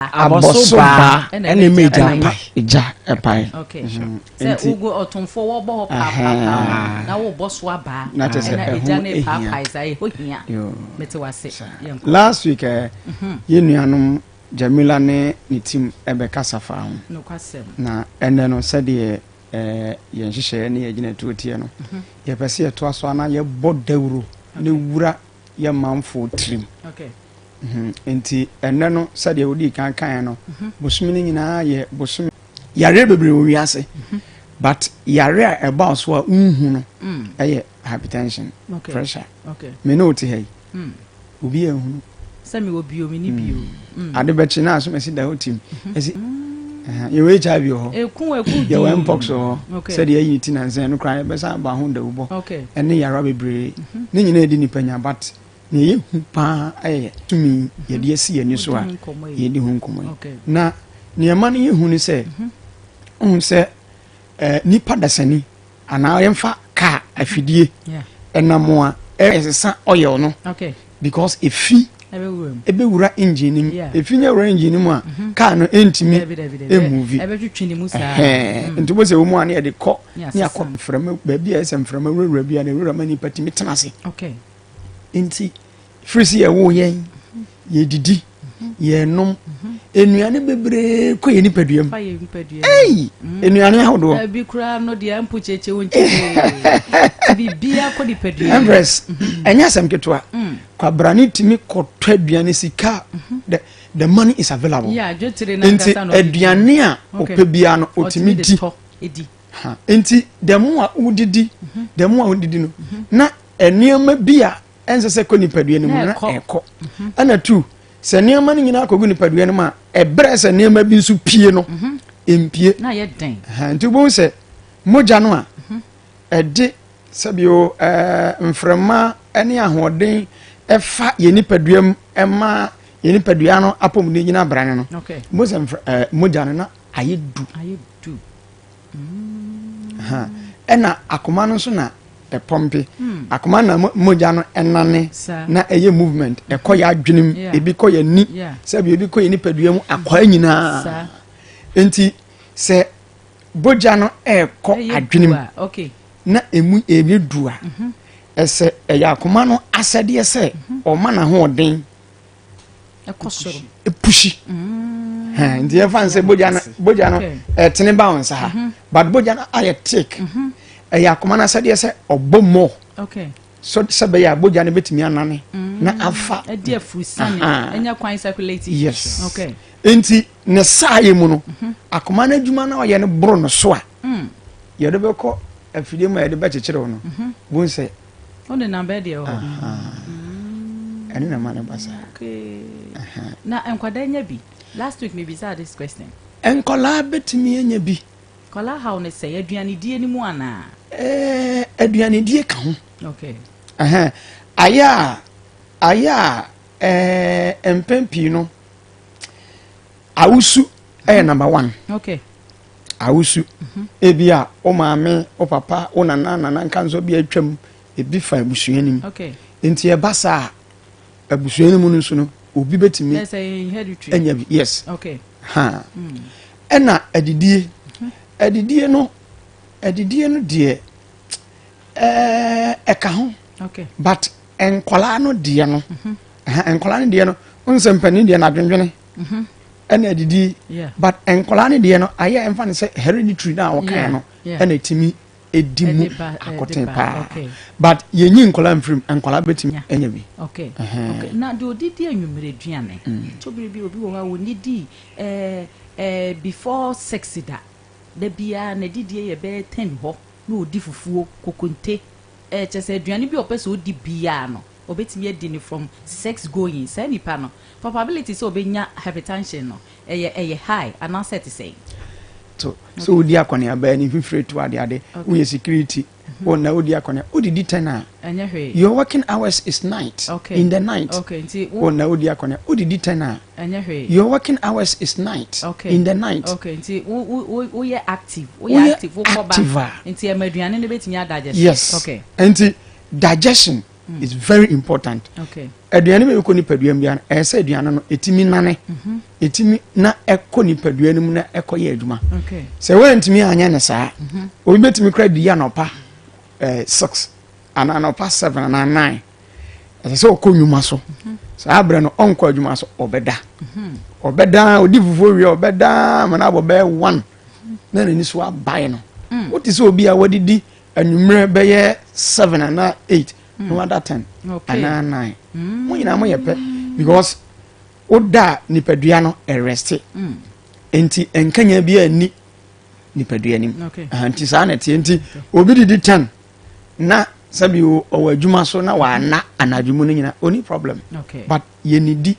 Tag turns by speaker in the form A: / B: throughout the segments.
A: abɔso baa ɛna ɛma egya pae egya pae okay mhm.
B: sɛ wogu ɔtomfoɔ wɔbɔ hɔ paapaa na wobɔ so abaa na kyɛ sɛ ɛho ehia saa ɛho hia mete wase yɛnkɔ last week ɛ
A: eh, mhm. yɛn nuanom jamila ne ne tim ɛbɛkasa eh, fa ho na
B: ɛnɛ no
A: sɛdeɛ ɛɛ eh, yɛn nhyehyɛeɛ ne yɛn gyina tuo teɛ no mhm. yɛpɛ sɛ yɛtoa so ana yɛbɔ dawuro ne wura. yɛ manfo tirim
B: nti
A: ɛnɛ no sɛdeɛ wodii kan kaeɛ no mhm. bosome no nyinaa yɛ bosome yareɛ bebree wɔ wiase mhm. but yare a ɛbaa so a wonhu no mm. ɛyɛ hypertension pressure me ne wote ha yi mm. obi ahunu sɛ mewɔ bio me
B: ne bio mm. mm. ade bɛkye na
A: asom asi da hɔ tim ɛsi mm-hmm. yɛwɔ hiv wɔ hɔ yɛwɔ
B: mpox wɔ
A: hɔ sɛdeɛ ayi ne ti nansɛ ɛno koraa yɛbɛsan aba ho dawubɔ ɛne yɛarewa bebree mm-hmm. ne nyinaa ɛdi nipa nya but na ɛyɛ hu paa ɛyɛ tumi mm-hmm. yɛde asi yɛn ani so a yɛdi ho nkɔmmɔ yi na nneɛma no yɛ hu ne sɛ ɔhu sɛ nipa dasani anaa yɛmfa kaa afidie ɛnam a ɛsesa oil no because efi ɛbɛwura engine no mu efi nyɛ wura engine no mu a mhm. kaa no ɛntumi ɛmuvi mhm.
B: nti wosɛ wɔmu
A: a ne yɛde kɔ ne akɔ mframa baabi a ɛsɛ mframa wurawura bi a na ɛwurama nipa tumi tena ase nti firi sɛ yɛwoo yɛn yɛdidi yɛnom nnuane bebree kɔ yɛ nipadua mu ei nnuane ahodoɔ ebi koraa no deɛ
B: mpo kyekye wo nkyekye biribiara kɔ nipadua mu empress mhm. ɛnyɛ
A: asɛm ketewa mm. kwabrane tumi kɔtɔ aduane sika mhm. the the money is available nti
B: aduane a ɔpɛ
A: biara no ɔtumi di nti dɛm a wodidi dɛm a wodidi no na nneɛma bi a ɛnsɛ sɛ kɔ nipadua no mu na ɛkɔ mhm. ɛna tu sɛ nneɛma no nyinaa kɔgu nipadua no mu a ɛbrɛ sɛ nneɛma bi nso pie no mhm. mpie
B: nti wobɛhu sɛ
A: mogya no a mhm. ɛde sɛbio ɛɛ mframa ne ahoɔden ɛfa yɛ nipadua mu ɛma yɛ nipadua no apɔmuden nyina abra no no wobɛhu sɛ ɛɛ mogya no na ayɛ du ɛna akoma no nso na ɛpɔmpe hmm. akoma na mogya no ɛnane na ɛyɛ movement ɛkɔ yɛ adwenem ebi kɔ yɛ ni sɛbi ebi kɔ yɛ nipadua mu akɔa nyinaa nti sɛ bogya no ɛkɔ adwenem na emu ebi dua mhm. ɛsɛ ɛyɛ akoma no asɛdeɛ sɛ mhm. ɔma n'ahoɔden. ɛkɔ
B: soro ɛpushi
A: mm. nti yɛfa n sɛ bogya no bogya no ɛtene ba wo nsa ha mhm. but bogya no ayɛ take mhm. ɛyɛ akoma no asɛdeɛ sɛ ɔbɔ mmɔ so sɛ bɛyɛ a bogya no bɛtumi anane mm. na afa ɛde afurusane
B: ɛnya kwan circulate yes okay
A: nti ne saa yɛ mu no mhm. akoma no adwuma no ɔyɛ no boro no so a mm. yɛde bɛkɔ afidie mu a yɛde bɛkyekyere no bu sɛ Wode na bɛ
B: deɛ hɔ.
A: Ɛno na ma no ba saa. Okay.
B: Na nkwadaa nya bi. Last week me bisaa this question. Nkwadaa
A: betumi anya bi. Nkwadaa haw ne sɛ
B: aduanedie no mu anaa. Ɛɛ
A: aduanedie ka ho. Okay. Ɛhɛn ayɛ a ayɛ a ɛɛ mpɛn pii no awusu ɛyɛ mhm. number one okay. awusu mhm. ebi a wo maame wo papa wo nana nana nka nso bi atwam ebi fa abusua nim okay. nti ɛba saa abusua no mu no nso no obi bɛtumi anya bi yes okay. ha mm. ɛna adidie mhm. adidie no adidie no deɛ ɛka ho okay. but nkwadaa no deɛ no nkwadaa no deɛ no nsɛmpanin deɛ no adwendwene mhm. ɛna adidi but nkwadaa no deɛ no ayɛ ɛmfa no sɛ hereditary no a wɔkae no ɛna ɛtumi ɛdi mu akɔten paa but yɛnyi nkwadaa mfirim nkwadaa bɛtumi ɛnya bi na deɛ
B: ɔdidi anwummerɛ aduane mm. to bere bi obi wɔ hɔ a wɔnidi eh, eh, before six da da biara na didie yɛ bɛyɛ ten hɔ na ɔdi fufuo kokonte ɛkyɛ eh, sɛ aduane bi a ɔpɛ sɛ ɔdi biara no Obetumi adi no from sex going, saa nipa no probability sɛ obenya hypertension no ɛyɛ ɛyɛ high anaasɛ ɛte sɛn? To sɛ
A: wodi akɔneaba, ani mfifire tu adeade, woyɛ security, mm-hmm. wo na wodi akɔneaba, wodidi ten a, your working hours is night, okay. in the night, okay. Nti, wo na wodi akɔneaba, wodidi ten a, your working hours is night, okay. in the night. Okay. Nti,
B: woyɛ active, woyɛ active, wokɔba,
A: nti
B: ɛma aduane no bɛtumi adigest.
A: Yes.
B: Okay. Nti,
A: digestion
B: mm.
A: is very important aduane
B: bɛ kɔ nipadua
A: mu biara ɛyɛ sɛ aduane no ɛtumi nane mhm. ɛtumi na ɛkɔ nipadua no mu na ɛkɔ yɛ adwuma sɛ woantumi
B: anyɛ
A: ne saa mhm. obi bɛtumi kora di anɔpa eh, six anaa anɔpa seven anaa nine ɛsɛ sɛ ɔkɔ nnwuma so mhm. saa berɛ no ɔnkɔ adwuma so ɔbɛda ɔbɛda ɔdi fufuo wie ɔbɛda mana abɔ bɛyɛ one na n'ani so abae no mm. wote sɛ obi a wadidi anwummerɛ bɛyɛ seven anaa eight mm. no ada ten okay. anaa nine
B: mm.
A: mo nyinaa mo yɛ pɛ because woda nipadua no ɛrɛste mm. nti nkanya bi a nni nipadua nim okay. uh, nti saa na ɛteɛ nti okay. obi didi ten na sɛbi ɔwɔ adwuma so na wɔana anadwo mu no nyina ɔni problem okay. but
B: yɛnidi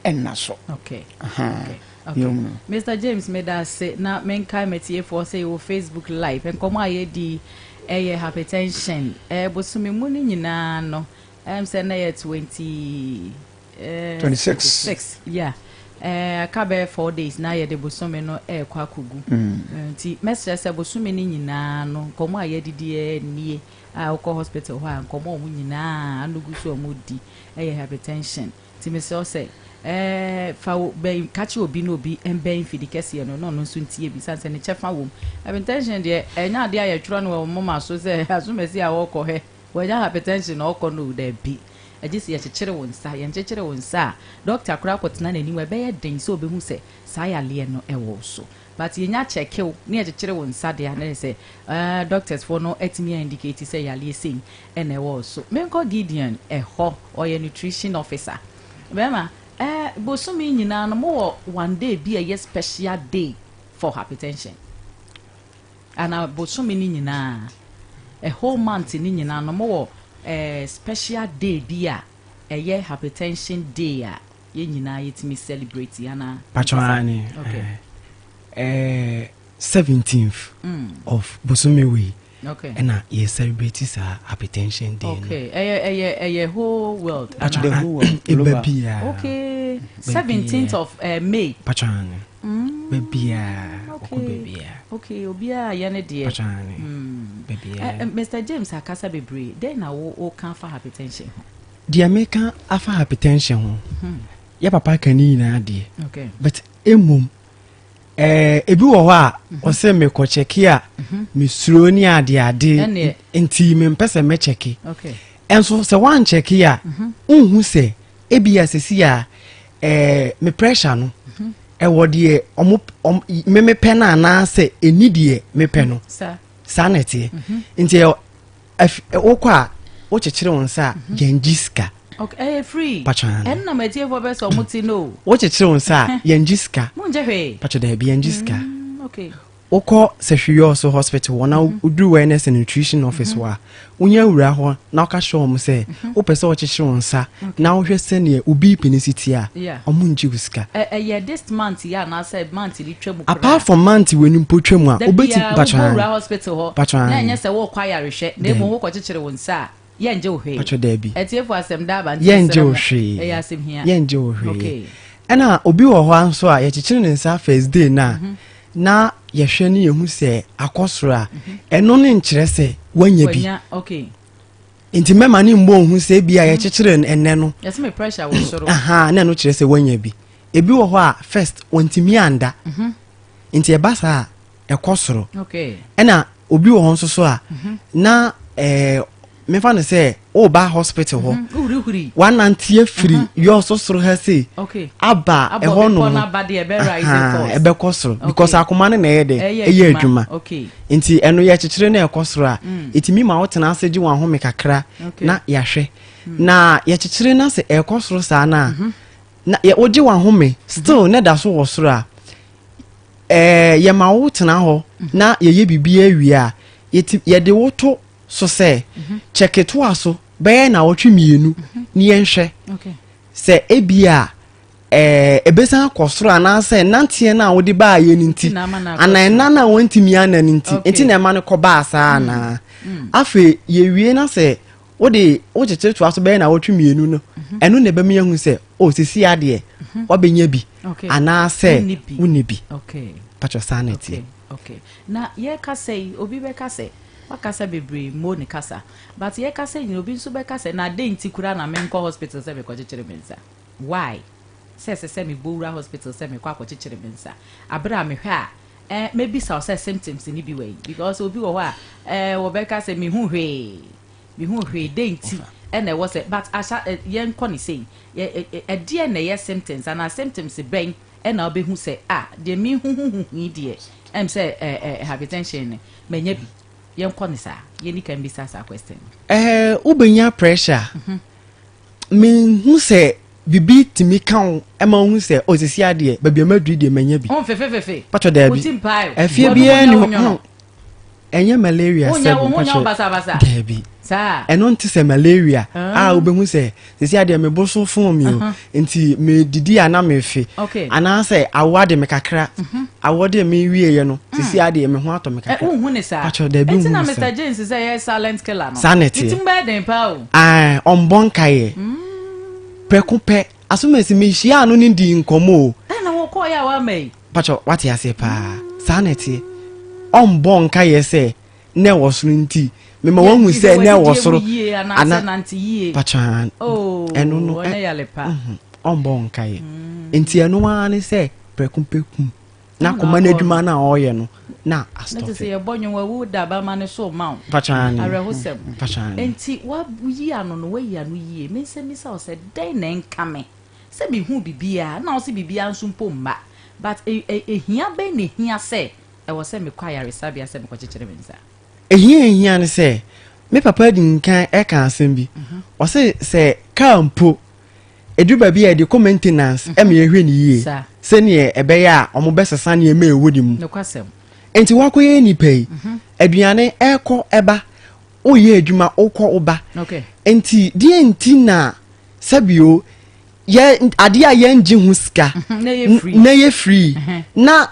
A: nna so. Okay. Aha. Okay. Okay. Mister
B: James meda ase na menkae matiefoɔ sɛ yɛwɔ Facebook live nkɔmɔ a yɛdi ɛyɛ hypertension ɛɛ bosome mu no nyinaa no ɛm sɛ na yɛ 20 ɛɛ 26 six yeah ɛɛ aka bɛyɛ four days na yɛde bosome no ɛɛkɔ akogu mm. nti mɛsrɛ sɛ bosome no nyinaa no nkɔmɔ a yɛdidi ɛnie a wokɔ hospital hɔ a nkɔmɔ a wɔn nyinaa anogu so a wɔn di ɛyɛ hypertension. Nti mesrɛ wo sɛ fa wo bɛn ka kyerɛ obi na obi mbɛn mfidi kɛseɛ no na ɔno nso ntie bi sane sɛ ne kyɛfa wɔ mu. Hypertension deɛ ɛnyɛ adeɛ a yɛtwerɛ no wɔ wo moma so sɛ asomasi a ɔɔkɔ hɛ wanya hypertension na ɔɔkɔ no o, daabi. Agye sɛ yɛkyekyere wo nsa, yɛnkyekyere wo nsa a dɔkta koraa kɔtena n'anim a ɛbɛyɛ den sɛ ɔbɛhu sɛ saa yareɛ no wɔ wo so. But yɛnya kyɛkew ne yɛkyekyere wo nsa de a na ɛyɛ sɛ eh doctors foɔ no atumi a indicate sɛ yareɛ sei na ɛwɔ wo so. Menkɔ Gideon ɛhɔ ɔyɛ nutrition officer. Bɛɛma eh bosome nyinaa no mowɔ one day bi a ɛyɛ special day for hypertension? Anaa bosome no nyinaa a whole month no nyinaa no mowɔ eh special day bi a ɛyɛ hypertension day a yɛn nyinaa yɛtumi celebrate anaa pakyɛ aane
C: okay. eh, 17th mm. of bosome wei okay. ɛna yɛ
B: celebrate
C: saa hypertension day okay. no ɛyɛ ɛyɛ ɛyɛ
B: whole world pakyɛ the whole
A: world ɛba bia okay
B: 17th of uh, may pakyɛ aane
C: mm. babiaa ɔkɔ
B: babiaa okay obiaa yɛ ne deɛ pakyɛ aane mm.
C: babiaa uh, eh, eh, mr james
B: akasa bebree dɛn na wo wo kan fa hypertension ho Deɛ meka
C: afa hypertension ho hmm. yɛ papa ka ne nyinaa deɛ but
B: mmom
C: eh, ebi wɔ hɔ a mhm. ɔsɛ mekɔkyɛke a mhm. mesuro ne adeade nti mempɛ sɛ mɛkyɛke ɛnso
B: sɛ
C: woankyɛke a mhm. wonhu sɛ ebia sɛsi a eh, me pressure no ɛwɔ deɛ memepɛ no anaasɛ ɛni deɛ mepɛ no saa na ɛteɛ nti Ɛf ɛ wokɔ a wokyekyere wo nsa a yɛngye sika. Okay, ɛyɛ free.
B: Patwa no. Ɛno na m'atiefoɔ
C: bɛ sɛ
B: ɔmo ti no. Wokyekyere wo nsa a
C: yɛngye sika. Mongye hwee. Patwa
B: daabi yɛngye sika.
C: Mm,
B: okay. Wokɔ
C: Sahwiyɔ so hospital hɔ na mhm. woduru wellness and nutrition office mhm. hɔ a wonya wura hɔ na woka hyɛ wɔn sɛ mhm. wopɛ sɛ wɔkyekyere wo nsa na wohwɛ sɛdeɛ wo bp no si tie a ɔmo ngye wo sika. Ɛyɛ this month
B: yɛ anaasɛ month bi Apart from mante w'ani
C: mpo twa mu a, wobɛti mpatwɔ han. Wura hospital
B: hɔ, na ɛnyɛ sɛ worekɔ
C: ayarehwɛ,
B: na mmom wokɔ kyekyere wo nsa a, yɛngye wo hwee. Patwɔ daabi. Atiefo
C: asɛm da aba nti
B: yɛsrɛ mo, ɛyɛ
C: asɛm hia. Yɛngye
B: wo hwee.
C: Okay. Ɛna
B: obi wɔ
C: hɔ nso a yɛkyekyere ne nsa first day na mm -hmm. na yɛhwɛ ne yɛhu sɛ akɔ soro a ɛno ne nkyerɛ sɛ wanya bi. Okay.
B: nti
C: mɛma ne mmɔ nhu sɛ ebi a mm. yɛkyekyere no ɛnɛ no yɛsɛ me pressure wɔ soro
B: aha na ɛno kyerɛ sɛ wanya
C: bi ebi wɔ hɔ a first wɔntumi anda mhm. nti ɛba saa a ɛkɔ soro ɛna
B: obi wɔ
C: hɔ nso so a mhm. na ɛɛ mefa no sɛ woba hospital hɔ mhm. wanante
B: afiri
C: yɔ so soro ha sei aba
B: ɛhɔ
C: nom
B: ɛbɛkɔ soro because
C: akoma no na ɛyɛ dɛ ɛyɛ adwuma nti ɛno
B: yɛ kyekyere
C: na ɛkɔ soro a ɛtumi ma wotena ase gye wɔn ahome kakra na yɛahwɛ hmm. na yɛkyekyere no sɛ ɛkɔ soro saa no a mhm. na wogye wɔn ahome mhm. still na ɛda so wɔ soro a ɛɛ yɛma wo tena hɔ mhm. na yɛyɛ biribi awie a yɛde wo to so sɛ kyɛketoa so bɛyɛ na wɔtwe mmienu ne yɛnhwɛ sɛ
B: ebi
C: a Ɛbɛsan akɔ soro anaasɛ nanteɛ no a wode baayɛ no nti anaa ɛna no a wantumi ana no nti nti na ɛma no kɔbaa saa mm. anaa mm. afei yɛwie na sɛ wode wokyekyere toa so bɛyɛ na wɔtwe mmienu no mhm. ɛno na ɛbɛmi ahu sɛ o oh, sisi adeɛ mhm. wabɛnya bi anaasɛ wonni bi
B: patwɛ saa na ɛteɛ na yɛka sɛ yi
C: obi
B: bɛka sɛ wakasa bebree mo ne kasa but yɛkasa nyina obi nso bɛka sɛ na adɛn nti kura na menkɔ hospital sɛ mekɔkyekyere me nsa Why? Sɛ ɛsɛ sɛ mebɔ wura hospital sɛ mekɔ akɔkyekyere me nsa aber a mehwɛ a eh mɛbisa wo sɛ symptoms no bi wɔ he? Because obi wɔ hɔ a eh wɔbɛka sɛ mehu hwee, mehu hwee dɛn nti na ɛwɔ sɛ but ahya eh yɛnkɔ no sei eh eh ɛdeɛn na ɛyɛ symptoms anaa symptoms bɛn na wobɛhu sɛ ah deɛ mehuhuhu he deɛ ɛm sɛ eh eh hypertension no manya bi. Yɛnkɔ no saa, yɛnni kan mbisa saa question no. Eh wobɛnya
C: pressure menhu sɛ biribi tumi ka wo ma wohu sɛ o sisi adeɛ baabi a maduri deɛ manya bi patwɔ daabi afie biara ni hɔ ɛnyɛ malaria sɛ bi patwɔ daabi ɛno nte sɛ malaria a ah. wobɛhu sɛ sisi adeɛ mebo so fon mi o nti medidi a na mefe anaasɛ awo ade me kakra mhm. awo deɛ mewieɛ no mm. sisi adeɛ me ho atɔ me kakra eh, patwɔ daabi
B: hu sɛ saa na ɛteɛ Ae, ɔmbɔ nkaeɛ.
C: Prɛko pɛ, asomasi mehyiaa no ne dii nkɔmmɔ o. Dɛn na wokɔɔeɛ a
B: woamma yi? Pakyɛ, woate aseɛ
C: paa. Saa na ɛteɛ. Ɔmbɔ nkaeɛ sɛ na ɛwɔ soro nti, mema wahu sɛ na ɛwɔ soro. Ana, pakyɛ, ɛno no,
B: ɔmbɔ
C: nkaeɛ. Nti ɛno ara ne sɛ, prɛko pɛ, kum. na koma no adwuma no a ɔreyɛ no na asitɔ fɛ. sɛ yɛbɔ nwom
B: wawu da bama no so ma wo awerɛhosɛm nti
C: woyi
B: ano no woayi ano yie me nsɛm bisa wo sɛ dɛn na ɛnka me sɛ mehu biribiaa na wo sɛ biribiaa nso mpo mma but ɛhia e, e, bɛn na ɛhia sɛ ɛwɔ sɛ mekɔ ayaresabea sɛ mekɔkyekyere me nsa ɛhia ɛhia
C: ne sɛ me papa adi nkan ɛka asɛm bi mhm. ɔse sɛ kaa mpo Edu baabi a yɛde kɔ maintenance mhm. ma yɛhwɛ no yie sɛdeɛ ɛbɛyɛ a wɔbɛsesa nneɛma ɛwɔ ne mu.
B: Nti wakɔyɛ
C: nipa yi mhm. aduane ɛkɔ ɛba woyɛ adwuma wokɔ woba. Nti deɛ nti na sɛbio yɛ adeɛ a yɛngye ho sika mhm, na yɛ free na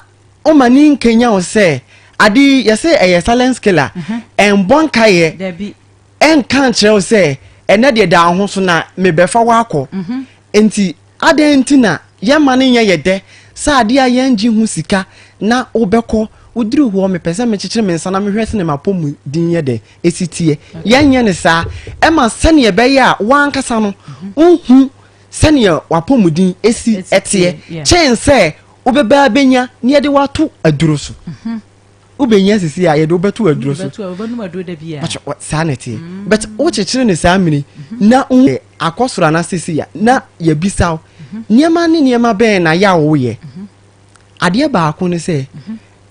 C: ɔma ne nkenya wo sɛ ade yɛsɛ ɛyɛ silence killer ɛnbɔ nkaeɛ
B: ɛnka nkyerɛ
C: wo sɛ ɛnɛ deɛ daa ho so na mebɛfa wo akɔ mhm. nti adɛn nti na yɛma no nyɛ yɛ dɛ sɛ adeɛ a yɛngye ho sika na wobɛkɔ woduru hɔ mepɛ sɛ mekyekyere me nsa na mehwɛ sɛ ne mapɔ mu din yɛ dɛ ɛsi teɛ yɛnyɛ no saa ɛma sɛneɛ ɛbɛyɛ a woankasa no mhm. wohu sɛneɛ wapɔ mu din ɛsi ɛteɛ kyɛn sɛ wobɛbaa bɛnya ne yɛde wato aduro so mm -hmm. wobɛnya sisi a yɛde wobɛto aduro so
B: saa na ɛteɛ mm.
C: but wokyekyere ne saa mmiri mhm. na woyɛ akɔ soro ana sisi a na yɛbisaw mhm. nneɛma ne nneɛma bɛn na yɛ a woyɛ mhm. adeɛ baako ne sɛ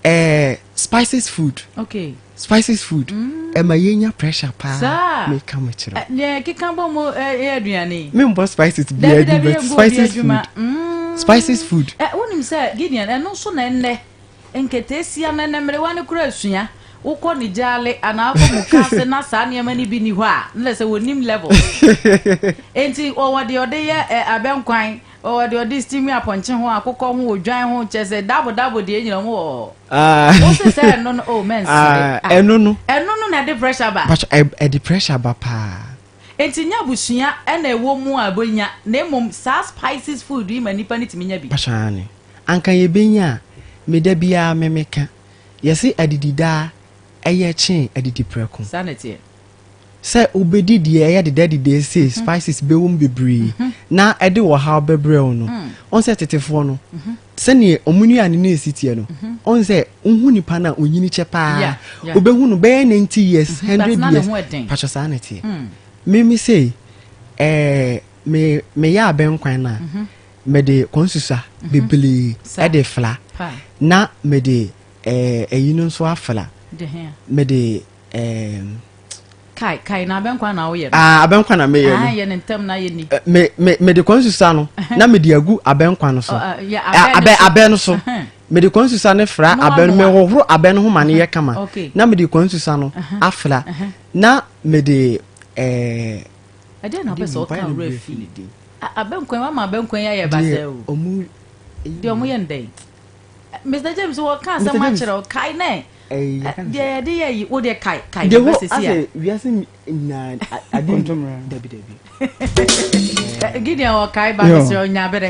C: eh, spices food okay. spices food mm. ɛma yɛnya pressure paa meka mo kyerɛ
B: eh, membɔ spices
C: biaa bi but spices food mm. spices food eh, wonim sɛ gideon
B: ɛno nso na ɛnnɛ Nketeesia no ne mmerewa no kura sua. Wokɔ ne gyaale anaa wokɔ muka ase na saa nneɛma no bi nni hɔ a, na kyerɛ sɛ wɔnnim levels. Enti wɔwɔ deɛ wɔde yɛ ɛ abɛnkwan, wɔwɔ deɛ wɔde steam apɔnkye ho, akokɔ ho, odwan ho, kyerɛ sɛ double double deɛ nyina wɔn wɔ hɔ. Ah. Wo se sɛ ɛno no, oh mɛnsere. Ah, ah, ɛno no.
C: Ɛno no na ɛde pressure
B: ba. Pacho, ɛ ɛde pressure
C: ba paa. Enti nyɛ
B: abusua ɛna ɛwɔ mu a ɛbɔ nya, na mmom saa spices food yi ma nipa no tumi nya bi. Pacho, aane. anka
C: yɛbɛnya a, me da biara me me ka, yɛse adidi daa ɛyɛ kyen adidi prɛko. Saa na ɛteɛ.
B: Sɛ
C: wobɛdi deɛ ɛyɛ deda deda sei, spices bɛwɔ mu bebree, na ɛde ɔhaw bɛbrɛ wo no, wohu sɛ tetefoɔ no, sɛdeɛ wɔn nnuane no ɛsi teɛ no, wohu sɛ wohu nipa no a ɔnyini kyɛ paa, Yeah, yeah. wobɛhu no bɛyɛ 90 years, But 100 na ne years, ho ɛden. patwɛ saa na ɛteɛ. Me me sei, ɛɛ, me meyɛ abɛnkwan no a, mede konsusa mhm. bebree de fla na mede ɛyi eh, no nso afla mede eh, kai
B: kai na abɛnkwa na woyɛ no ah abɛnkwa na meyɛ no ah
C: yɛ ne ntɛm na yɛ ni eh,
B: me me me de konsusa
C: no na me de agu abɛnkwa no so oh, ah, eh, abɛ abɛ no so me de konsusa no fra abɛ no me hohoro abɛ no ho ma ne yɛ kama na me de konsusa no afra na me de ɛɛ.
B: Ɛdeɛn na wopɛ sɛ ɔka wo werɛ fi? Ah, abɛnkwan, wama abɛnkwan yi ayɛ basaa o.
C: Deɛ ɔmo yɛ
B: no dɛn? Mr James, wɔka asɛm akyerɛ wo, kae nɛ deɛ yɛde yɛ yi, wo deɛ kae, kae ne bɛ sisi a. Deɛ hɔ
C: asɛ wiase nyinaa ade ntomra. Dabi, dabi.
B: Gideon, wɔkae ba mesrɛ, ɔnya berɛ.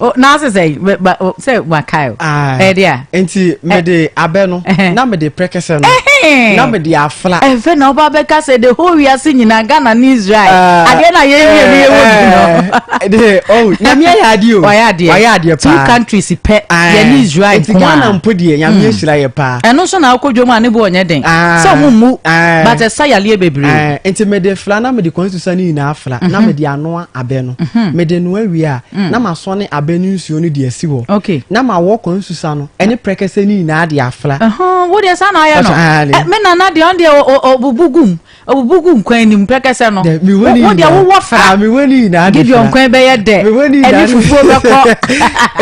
B: Oh, na ase sɛ sɛ wakae o ah, ɛde a nti mede
C: eh. abɛ no eh, eh. na mede prɛkɛsɛ no na mede afla ɛfɛ na ɔba bɛka
B: sɛ de ho wiase nyinaa ghana ne israel ah, adeɛ na yɛwie no yɛwɔ bi no de oh
C: nyame ayɛ adeɛ o wayɛ adeɛ wayɛ adeɛ paa two countries
B: pɛ ah, yɛne israel nko a ghana mpo deɛ
C: nyame hmm. ahyira yɛ paa ɛno nso na akɔdwa mu a ne
B: bo ɔnyɛ den sɛ ɔmo mmu but ɛsa yaleɛ bebree nti mede fla na
C: mede constitution no nyinaa fla na mhm. mede anoa abɛ no mede mhm. noa wie a na masɔne abɛ ne nsuo no de asi hɔ, na mawɔ kwan
B: nsusa
C: no ne prɛkɛsɛ no nyinaa de afra. Wo deɛ saa na ayɛ
B: no? Eh, me nana deɛ ɔno deɛ ɔbubu gum, ɔbubu gum kwan anim prɛkɛsɛ no. Wo deɛ wowɔ fra. Ah, mewɔ ne nyinaa de fra.
C: Gideon kwan bɛyɛ dɛ. Mewɔ
B: ne nyinaa de fra. Ɛne fufuo bɛkɔ.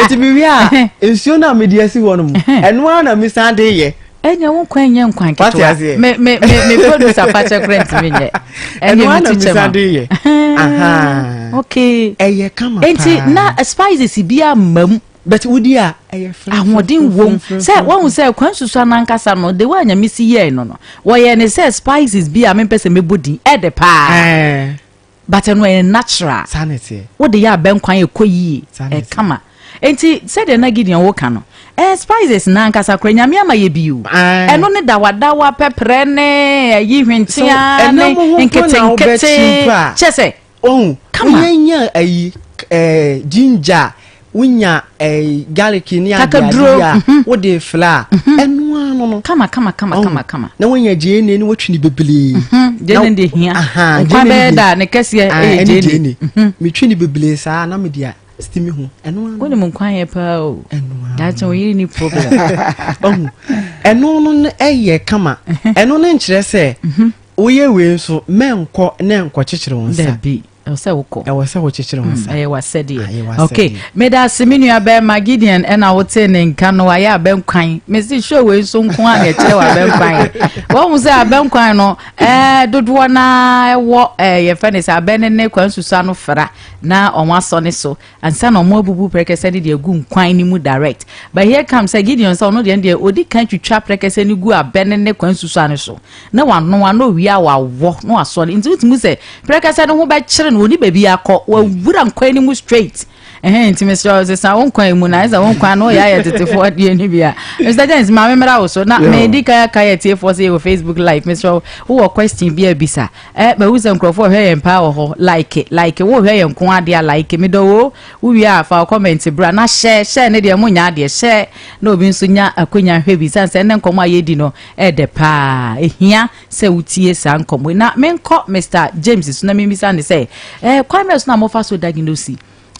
B: Eti mewie
C: a, nsuo no a mede asi hɔ no mu, ɛno ara na mesan de yɛ. ɛnyɛ wo nkwa nyɛ
B: nkwa nketewa me me me me producer fakyɛ kora ntumi nyɛ ɛnyɛ me ti kyɛ
C: ma okay ɛyɛ
B: kama paa nti
C: na spices
B: bi a mam bɛti wodi a
C: ɛyɛ fɛ ahoɔden wom sɛ
B: wɔn sɛ kwan susu anankasa no de wɔn anyame si yɛɛ no no wɔyɛ ne sɛ spices bi a mempɛ sɛ mebɔ din ɛde paa. But ɛno ɛyɛ natural. Saa na ɛteɛ. Wode yɛ
C: abɛ nkwan a
B: ɛkɔ yie. Saa na ɛteɛ. Ɛkama. Enti sɛdeɛ na Gideon wo ka no, ɛɛ spices no ankasa koraa Nyame ama yɛ bi o. Ae. Ɛno ne dawadawa, pɛprɛ ne ayi hwentea So ne ɛnam ho mpo na nketenkete. wobɛkye mpo a. Kyerɛ sɛ, Ohu. kama.
C: Wonya nya ayi k- ɛɛ ginger a wonya eh, garlic ne kakaduro adeade a mhm. wode fla a mhm. ɛno ara no no kama kama kama kama
B: kama na
C: wonya gyeene ne watwi ne bebree gyeene mhm. de
B: hia nkwa bɛyɛ da ne kɛseɛ ah, ɛyɛ gyeene metwi ne
C: bebree saa na mede a stimi ho ɛno ara wonim nkwa yɛ paa
B: o ɛno ara daakye woyere ne problem ɔhu
C: ɛno no ɛyɛ kama ɛno no nkyerɛ sɛ woyɛ wei nso mɛnkɔ ne nkɔkyekyere wo nsa ɛwɔ sɛ wokɔ
B: ɛwɔ sɛ wokyekyere ho asa
C: ɛyɛ wasɛdeɛ
B: ok meda ase me nua bɛrima gideon ɛna wotee ne nka no wayɛ abɛnkwan mese show wei nso nko a na ɛkyerɛ wɔ abɛnkwan wɔhu sɛ abɛnkwan no ɛɛ dodoɔ no ara ɛwɔ ɛɛ yɛfɛ ne sɛ abɛn ne ne kwan susua no fra na wɔn asɔ ne so Ansa na ɔmo abubu prɛkɛsɛ no de agu nkwan no mu direct. But here comes sɛ Gideon sɛ ɔno deɛ no deɛ odi kan twitwa prɛkɛsɛ no gu abɛ no ne kwan susua no so, na wanoa, na owie a wawɔ, na wasɔ no. Nti wotumi hu sɛ prɛkɛsɛ no ho bɛkyere no, onni baabi akɔ, wawura nkwan no mu straight. Ɛhɛn, nti mesrɛ wo, sesa wo nkwan mu, na ayɛ sɛ wo nkwan no yɛ ayɛ tetefoɔ adeɛ no bi a. Mister James, ma memmra wo so, na medi kan aka yɛn atiefoɔ sɛ yɛwɔ Facebook live, mesrɛ wo, wowɔ question bi a bisa. Eh mahu sɛ nkurɔfoɔ hwɛ yɛn paa wɔ hɔ like like wo hwɛ yɛn nko ara dea like me dɔ woo wo wie a fa wo comment bra na share share ne deɛ mo nya adeɛ share na obi nso nya akwanya hwɛ bi sane sɛ ɛnɛ nkɔmɔ a yɛdi no ɛɛdɛ paa ɛhia sɛ wo tie saa nkɔmɔ yi na menkɔ Mr James so na memmisa ne sɛ eh kwan bɛ so na mofa so diagnose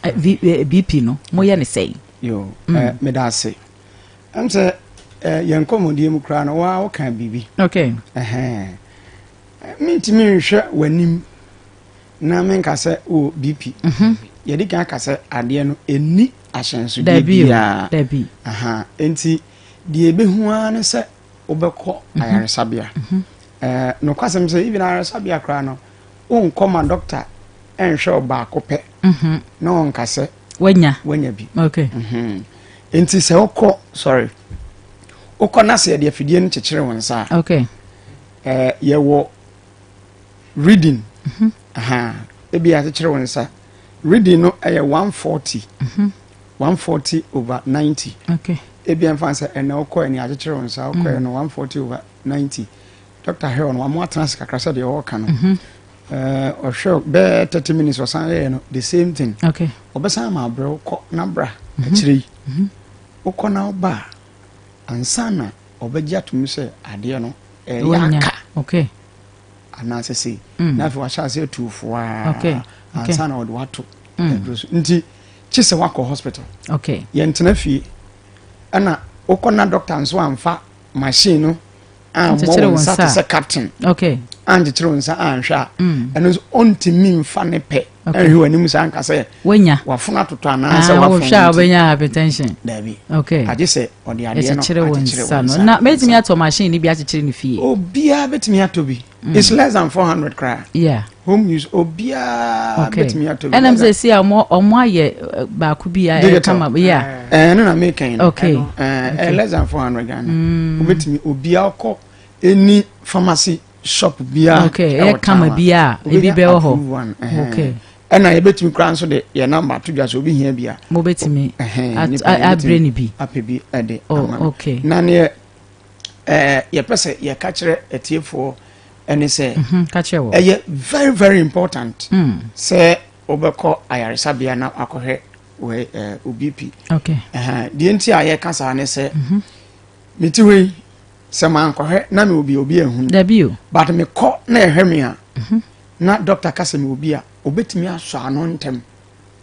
B: eh, BP eh, no moyɛ ne sɛi yo mm.
A: eh, meda ase ɛm sɛ eh, yɛn nkɔmmɔdie mu koraa no waa woka biribi okay. eh, eh. Mentumi nhwɛ w'anim na menka sɛ wɔ BP. Mhm. Yɛde kan aka sɛ adeɛ no ɛnni ahyɛnsodeɛ biara. Enti deɛ ɛbɛhu ara ne sɛ wobɛkɔ mhm. ayaresabea. Mhm. Eh, nokwasɛm sɛ even ayaresabea koraa no wonkɔ ma dɔkta ɛnhwɛ wo baako pɛ na ɔnka sɛ wanya bi.
B: Enti
A: sɛ wokɔ sorry wokɔ na sɛ yɛde afidie no kyekyere wo nsa a
B: Eh,
A: yɛwɔ reading mhm. aha ebi akyekyere wo nsa reading no ɛyɛ 140 140 mhm. over 90 okay ebi
B: ɛmfa sɛ
A: ɛnɛ wokɔ ɛne akyekyere wo nsa wokɔ ɛno 140 over 90 dr hell no wɔn atena ase kakra sɛ deɛ ɔreka no mhm. eh, ɔhwɛ bɛɛ 30 minutes ɔsan yɛɛ no the same thing okay ɔbɛsan ma
B: abrɛ
A: wokɔ na bra akyire yi wokɔ na woba a ansa na ɔbɛgye atom sɛ adeɛ no ɛyɛ aka okay.
B: anaasɛ
A: sei mm. na afei wahyɛ ase atu foaa okay. okay. ansa
B: na ɔde wato
A: mm. aduro so nti kye sɛ wakɔ hospital okay. yɛntena
B: fie
A: ɛna wokɔ na dɔkta nso amfa machine no ammɔ wo nsa te sɛ captain ankyekyere
B: wo nsa
A: anhwɛ a mm. ɛno nso ɔntumi mfa ne pɛ ɛhwɛ w'anim saa nka sɛ wanya wafono atotɔ
B: anaasɛ
A: ah, wafono a wobɛnya
B: hypertension daabi okay
A: agye sɛ
B: ɔde adeɛ no
A: akyekyere wo nsa no na
B: mɛtumi atɔ machine no bi akyekyere no fie obiara bɛtumi atɔ
A: bi Mm. It's less than 400 kra. Yeah. Home use obiara betumi atɔ bi. Ɛnam sɛ si a ɔmo ɔmo
B: ayɛ eh, baako bi a ɛyɛ kama. Yeah. Ɛɛ eh, no na mi kɛn.
A: Okay. Ɛɛ eh, less than 400 Ghana. Mm. Obetumi obiara
B: kɔ
A: any pharmacy shop biara. Okay. Ɛyɛ kama
B: biara ebi bɛ wɔ hɔ. Okay. ɛna yɛbɛtumi
A: kora nso de yɛ namba ato dwa sɛ obi hia bi a mobɛtumi
B: abrɛ ne bi apɛ bi de
A: oh, ama na
B: neɛ
A: ɛɛ yɛpɛ sɛ yɛka kyerɛ atiefoɔ ɛne sɛ mhm, ɛyɛ
B: very very
A: important mm. sɛ wobɛkɔ ayaresabea na akɔhwɛ wɔ ɛɛ obp
B: deɛ nti a
A: yɛka saa ne sɛ mhm. meti hɔ yi sɛ mankɔhwɛ na me obi obi ahunu dabi o but
B: mekɔ na
A: ɛhwɛ me a mhm. na dɔkta ka sɛ me obi a obetumi asɔ ano ntɛm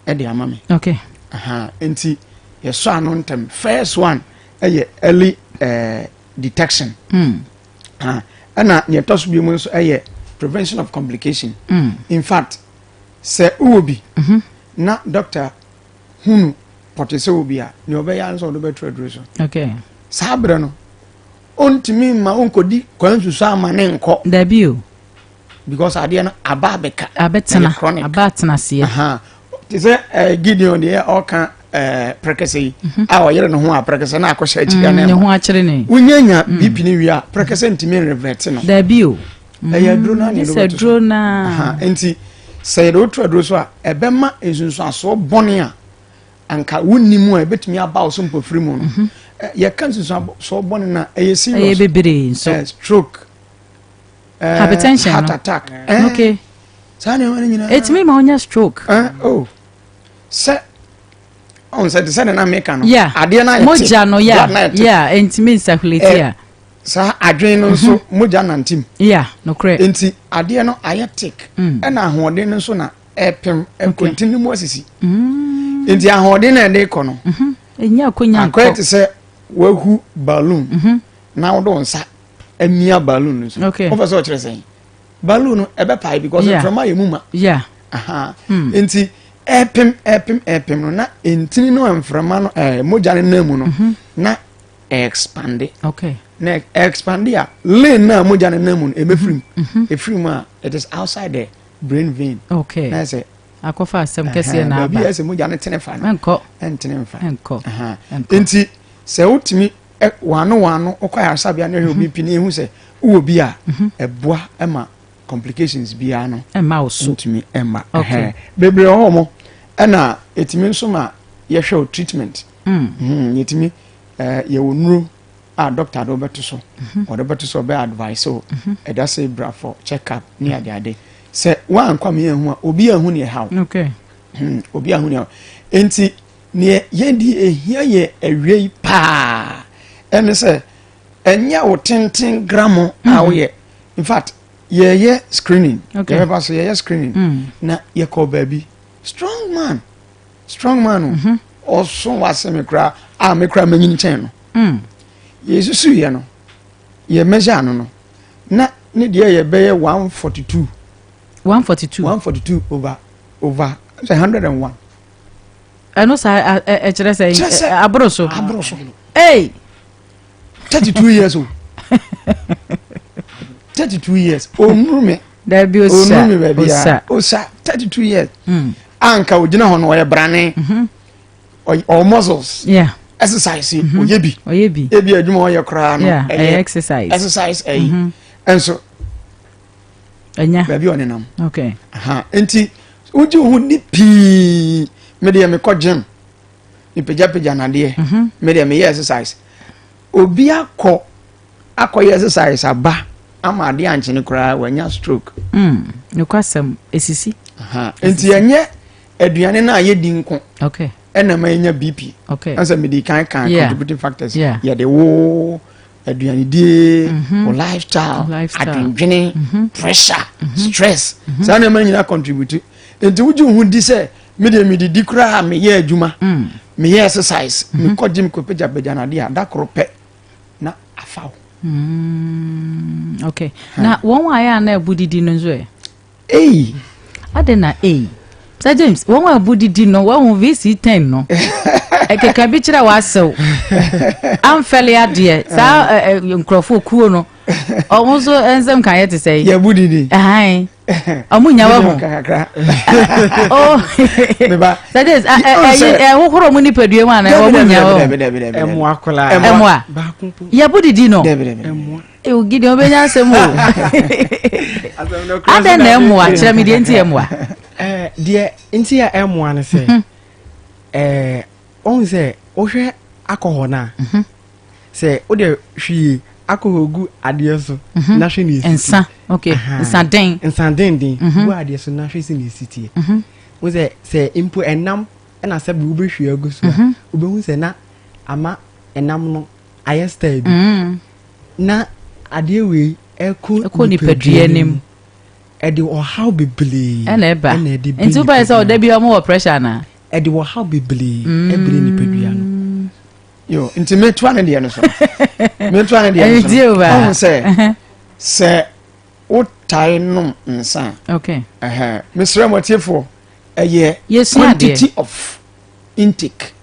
A: ɛde ama me okay aha
B: nti
A: yɛsɔ ano ntɛm first one ɛyɛ early uh, detection mm. ha ɛna nea ɛtɔ so bi mu nso ɛyɛ prevention of complication mm. in fact sɛ wowɔ bi mm -hmm. na doctor hunu pɔte sɛ wɔ bi a nea ɔbɛyɛ nso ɔde bɛto aduro so okay saa
B: berɛ no
A: ɔntumi mma ɔnkɔdi kwan nsusu ama ne nkɔ dabi o
B: because
A: adeɛ no aba abɛka abɛtena aba
B: atena aseɛ te sɛ
A: eh, gideon deɛ ɔka eh, prɛkɛsɛ yi mhm. a ɔyere ne ho a prɛkɛsɛ na akɔhyɛ akyika mm, ne ho akyere ne
B: wonya nya mm. bipi ne
A: wie a prɛkɛsɛ ntumi reverɛte no daabi o mm,
B: ɛyɛ aduro no ane
A: sɛ aduro no
B: nti
A: sɛ yɛde wotu aduro so a ɛbɛma nsunsuasoɔ bɔne a anka wonni mu a ɛbɛtumi aba wo so mpɔfiri mu no mhm. eh, yɛka nsunsuasoɔ bɔne no a ɛyɛ serious
B: stroke eh, hypertension heart attack
A: eh, okay
B: saa nneɛma no
A: nyinaa ɛtumi ma wonya stroke
B: eh, oh.
A: sɛ ɔn sɛ te sɛ ne na meka no yeah. adeɛ no ayɛ mogya
B: no ya yeah. ɛntumi nsahulate eh, a saa adwene
A: no nso mhm. mogya nantim yeah, nokorɛ nti
B: adeɛ no
A: ayɛ tik mm. ɛna ahoɔden no nso na ɛpem ɛkontin no mu asisi mm. nti ahoɔden na ɛde kɔ no mhm. ɛnya akɔnya
B: nkɔ akɔyɛ te sɛ
A: wahu balloon mhm. na wode wo nsa amia balloon no so okay. wofɛ sɛ ɔkyerɛ sɛn balloon no ɛbɛpae because yeah. mframa yɛ mu ma yeah. Aha. Hmm. nti ɛpem ɛpem ɛpem no na ntini no mframa no ɛɛ mogya no nan mu no mhm. na ɛɛkspande okay. na
B: ɛɛkspande
A: a lane na mogya no nan mu no ɛbɛfiri mu mhm. Mhm. ɛfiri mu a it is outside the brain vein okay. na ɛsɛ
B: akɔfa
A: asɛm
B: kɛseɛ na aba baabi ɛsɛ mogya no tene fa
A: no ɛnkɔ ɛntene nfa ɛnkɔ
B: nti
A: sɛ wotumi wɔn ano wɔn ano ɔkɔ ayaresabea na ɛhwɛ obi mhm. pini ehu sɛ wowɔ bi a mhm. ɛboa ɛma complications biara no ɛma wo so ntumi
B: ɛma ɛhɛn
A: bebree wɔ hɔ ɛna etumi nso ma yɛhwɛ o treatment mm. mhm, yɛtumi ɛɛ yɛwɔ nuro a doctor de ɔbɛto so ɔde bɛto so ɔbɛ advice o ɛda sɛ bra for check up ne ade ade sɛ wɔn ankɔ mi yɛn ho a obi yɛn ho ne ɛha o
B: obi yɛn ho
A: ne ɛha o nti. Neɛ yɛn deɛ ɛhia yɛn awiei paa ɛne sɛ ɛnyɛ wo tenten gram a mm-hmm. woyɛ in fact yɛyɛ screening yɛbɛba so yɛyɛ screening mm. na yɛkɔ baabi strong man strong man o mm-hmm. ɔso wase me koraa a me koraa manyini kyɛn no mm. yɛsusuiɛ no yɛ measure no no na ne deɛ yɛbɛyɛ 142 142 142 over over 101
B: ɛno saa ɛkyerɛ sɛ aboro so aboro so ee
A: thirty two years o thirty two years onuru mi dabi osa onuru
B: mi baabi a osa thirty two
A: years hmm. anka ogyina hɔ no ɔyɛ brane mhm. ɔwɔ muscles exercise mhm. ɔyɛ bi ɔyɛ bi ebi adwuma ɔyɛ koraa no ɛyɛ exercise exercise ɛyi mhm. nso.
B: ɛnya baabi a ɔnenam
A: okay aha
B: nti
A: wogye wo ho ni pii me deɛ mekɔ gym mepagyapagya nadeɛ mhm. me deɛ meyɛ exercise obi akɔ akɔyɛ exercise aba ama adeɛ ankyene koraa wanya stroke mm, nokwasɛm
B: ɛsisi nti ɛnyɛ
A: aduane no a yɛdi nko ɛna ma
B: yɛnya bp
A: ɛsɛ mede kan
B: kan
A: contributing factors yɛde wo aduanedie mhm. wo lifestyle adwendwene mhm. pressure mhm. stress saa nneɛma nyina contribute nti wogye wo ho di sɛ medeɛ medidi koraa meyɛ adwuma mm. meyɛ exercise mekɔ gym kɔpɛgyapɛgya no adeɛ a da koro pɛ na afa wo
B: mm. okay na wɔn a ɛyɛ a na ɛbo didi no nso ɛ Ei! Adɛn na ei? Sir James, wɔn a abu didi no, wɔahu VC ten no. Ɛkeka bi kyerɛ w'asew. Amfɛle adeɛ, saa ɛ, eh. ɛ, eh, nkurɔfoɔ kuo no. Ɔmo nso nsɛm ka yɛ te sɛ yi. Yɛbu
A: didi.
B: Ahan. Ɔmo nya wahu. Oh. Sir James, ɛyi ɛhohoro ɔmo nipadua mu ana ɔmo nya wahu. Ɛmoa koraa.
C: Ɛmoa.
B: Yɛbu didi no. ewu
C: gidi o benya
B: asɛm o adɛn na ɛmoa kyerɛ me deɛ nti ɛmoa eh, deɛ
C: nti a ɛmoa no sɛ mhm. eh, ɔhu sɛ wohwɛ akɔhɔ no a mhm. sɛ wode hwii akɔhɔ gu adeɛ so mhm. na hwɛ ne ɛsisa
B: nsaden nsadenden gu adeɛ so na
C: hwɛ si ne ɛsitie wo sɛ sɛ mpo ɛnam ɛna sɛ wobɛhwie agu so a wobɛhu sɛ na ama ɛnam no ayɛ style bi mm. na adeɛ wei ɛkɔ nipadua no mu
B: ɛde
C: ɔhaw bebree ɛna ɛba ɛna ɛde bi
B: nti wobɛyɛ sɛ ɔda bi ɔmo wɔ pressure na ɛde ɔhaw bebree
C: mm. ɛbere nipadua no yo
A: nti metua ne deɛ no so metua ne deɛ no so ɔhu sɛ sɛ wotae nom nsa okay
B: mesrɛ mo
A: atiefoɔ ɛyɛ quantity of intake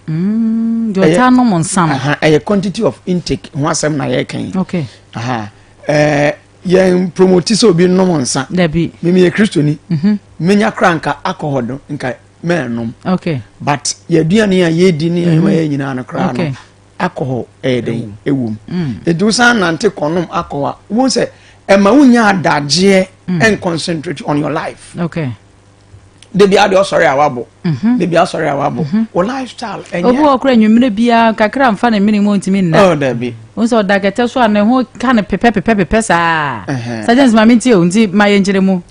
B: Mm, deɛ ɔtaa nom nsa no. Ɛyɛ quantity of
A: intake ho asɛm na yɛreka yi. Okay. Aha.
B: Ɛɛ yɛn
A: promoti sɛ obi nom nsa. Dabi. Mimi yɛ
B: kristoni.
A: Mhm. Menya kora nka alcohol do nka mɛnnom. Okay. But
B: yɛaduane
A: a yɛdi ne yɛn yɛ nyinaa no koraa no alcohol ɛyɛ dɛn ɛwom. Mm. Edu san nante kɔnom alcohol a wɔn sɛ ɛma wonya adagyeɛ and concentrate on your life. Okay.
B: debi
A: adi ɔsɔre a wabɔ mhm. debi asɔre a wabɔ mhm. o lifestyle ɛnyɛ obi wɔ kura nwumire biara
B: kakra nfa ne mmiri mu ntumi nna ɔɔ dabi n sɛ
A: ɔda kɛtɛ so a
B: ne ho ka ne pepɛ pepɛ pepɛ saa sajens maame nti o nti ma yɛ nkyerɛ mu.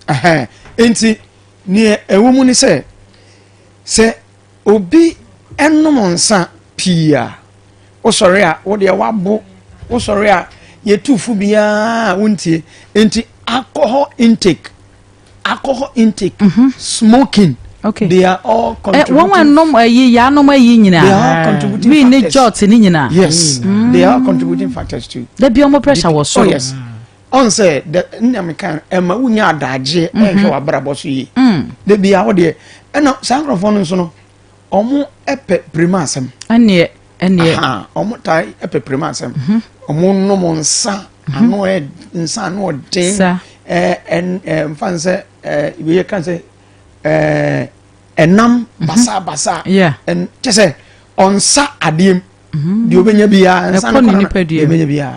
B: nti
A: nea ɛwɔ mu ni sɛ sɛ obi ɛnom nsa pii a wosɔre a wodeɛ wabo wosɔre a yɛtu fo biara wontie nti alcohol intake alcohol intake mm -hmm. smoking okay. they are
B: all contributing
A: eh, wɔn a nom ayi eh,
B: yanom ayi eh, nyinaa they are all contributing
A: factors wii ne jot ne
B: nyinaa yes mm. they are
A: all contributing factors too dabi ɔmo pressure wɔ
B: soro oh yes
A: ɔn sɛ dɛ nnam kan ɛma wunya adagye ɛnhwɛ mm-hmm. w'abrabɔ so yie mm. dabi a ɔdeɛ ɛna saa nkorɔfoɔ no nso no ɔmo ɛpɛ pirima asɛm ɛneɛ
B: ɛneɛ ɔmo
A: taa ɛpɛ pirima asɛm ɔmo mm-hmm. nom nsa Ano yɛ nsa ano ɔden. Sa. Ɛɛ ɛn ɛɛ nfa n sɛ ɛɛ ibi yɛ kan sɛ ɛɛ ɛnam mhm. basaa basaa. Yeah. Ɛn kyɛ
B: sɛ
A: ɔnsa adeɛ mu. Mhm. Deɛ ɔbɛnya bi ya nsa no kɔnɔ deɛ ɔbɛnya bi ya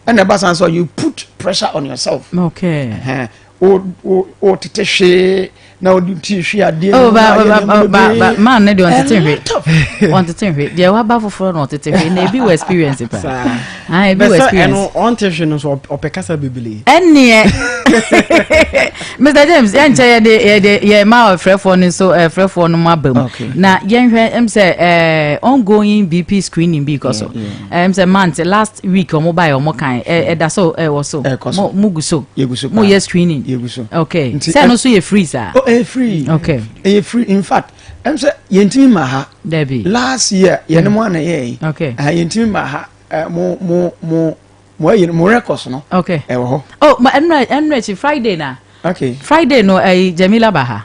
A: ɛna ɛba san sɛ you put pressure on yourself. Okay. Ɛhɛn. o tete hwee na o di ti hwee adeɛ oh, na ayɛ nneɛma bebree
B: maa ne deɛ ɔntete hwee ɔntete hwee deɛ waba foforɔ na ɔtete hwee na ebi wɔ experience pa ah ebi wɔ experience bɛsɛ ɛno ɔnte hwee no so
C: ɔpɛ kasa bebree ɛnneɛ
B: mr james yɛn nkyɛn yɛde yɛde yɛn ma ɔfrɛfoɔ no nso ɛfrɛfoɔ no mu aba mu na yɛn hwɛ ɛm sɛ ɛɛ ongoing bp screening bi kɔ so. ɛm sɛ month last week ɔmo ba yɛ ɔmo kan ɛ ɛda so ɛwɔ so mo mo gu so mo yɛ screening yɛgu so okay sɛ no so yɛ free saa oh ɛyɛ free okay
A: ɛyɛ free
B: in fact
A: ɛm sɛ yɛntumi ma ha dɛbi last
B: year yɛne
A: mo ana yɛ yi okay ɛhɛ yɛntumi ma
B: ha
A: ɛ mo mo mo mo ɛyɛ mo records no okay ɛwɔ hɔ oh
B: ma
A: ɛnura ɛnura
B: akyi friday na okay friday
A: no ɛyi
B: jamila ba ha.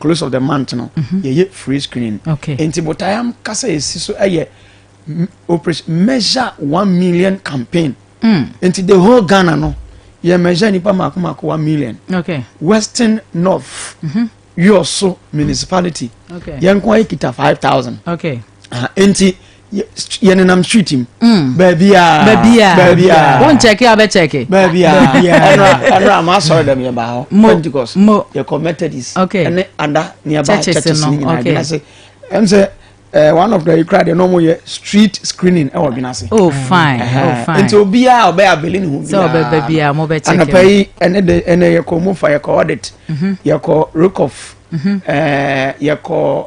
A: close of the month no mhm. yɛyɛ free screening nti botaeɛ ankasa yɛsi so yɛ operation measure one million campaign mm. nti the whole ghana no yɛ measure nipa mako mako one million okay. western north mm -hmm. yɔso municipality okay. yɛn nko ayɛ
B: kita five
A: thousand okay. uh,
B: nti
A: yɛ nenam street mu. Mm. baabi a baabi a baabi a
B: wọn kyɛkɛ a bɛ kyɛkɛ. baabi a
A: baabi a ɛnura ɛnura maa sɔrɔ dɛm yɛ ba hɔ. mo pentikɔs mo yɛ kɔ methodist. ok ɛne ada
B: ni yɛ
A: ba churches ni nyinaa ok ɛdina se
B: ɛm sɛ
A: ɛɛ one of the ekura de n'ɔmo yɛ street screening ɛwɔ eh, dina se. oh fine
B: oh fine nti obiara
A: ɔbɛ abeli ni ho biara sɛ ɔbɛ baabi a mo
B: bɛ kyɛkɛ. anapa yi ɛne de
A: ɛne yɛ kɔ mo fa yɛ kɔ audit mhm. yɛ kɔ rekoff mhm. ɛɛ eh, yɛ kɔ.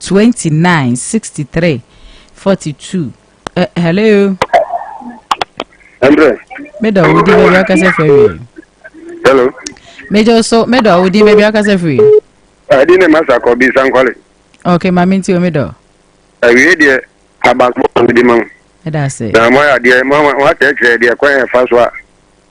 B: twenty nine sixty three forty two ɛ hello.
D: ɛnbrɛ. meda
B: wo din baabi akasa firi awie. hello.
D: meda
B: so meda wo din baabi akasa firi. ɛdi ne
D: masa kɔ bi sankwale. ok maame nti
B: o meda. awie deɛ
D: abaso ɔmo di ma mo. ɛda ase. na mo
B: ayɛ adeɛ mo mo
D: akyerɛkyerɛ deɛ kwan yɛ fa so a.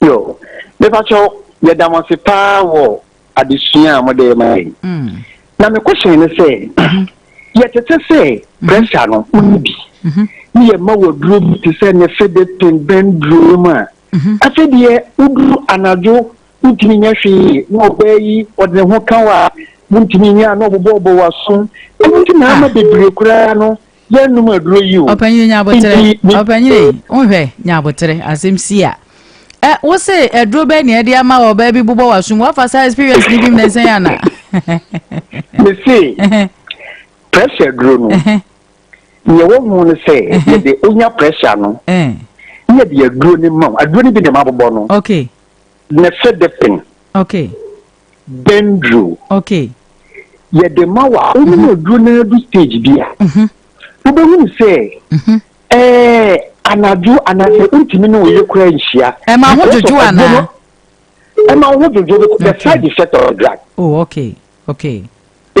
B: Yo,
E: mepakyɛw, yɛda mo ase paa wɔ adesua a mode rema yɛn. Mm. Na me question ne sɛ, mm-hmm. yɛtete sɛ mm-hmm. pressure no wonni bi, mm-hmm. ne yɛma wɔ duro bi te sɛ ne fede ten bɛn duro no mu a, afei deɛ woduru anadwo wontumi nyɛ hwee na ɔbaa yi ɔde ne ho ka wɔ a wontumi nyɛ a na ɔbobɔbɔ wɔ aso ɛno nti na ama bebree koraa no yɛnnom aduro yi o. ɔpanyini nyabotere
B: ɔpanyini wohwɛ nyabotere asɛm si a ɛ wo se aduro bɛɛ nea ɛde ama wɔ baabi bobɔ w'asom wafa saa experience ni bi mu na nsɛn yɛ ana.
E: me se pressure duro no nea ɛwɔ ho no sɛ yɛde onya pressure no ne yɛde aduro no ma wo aduro no bi na ɛma bobɔ no
B: ne fɛ
E: de pen. Okay.
B: Dendro.
E: Okay.
B: Yɛde
E: ma wa. Wɔn mu aduro na adu stage bi a. Mhm. Wobɛhunu sɛ. Mhm. Ɛɛ anadwo anaasɛ ntumi na ɔyɛ kura nhyia. Ɛma ho dwodwo
B: anaa. Ɛma
E: ho dwodwo the side effect of the drug. Oh okay
B: okay.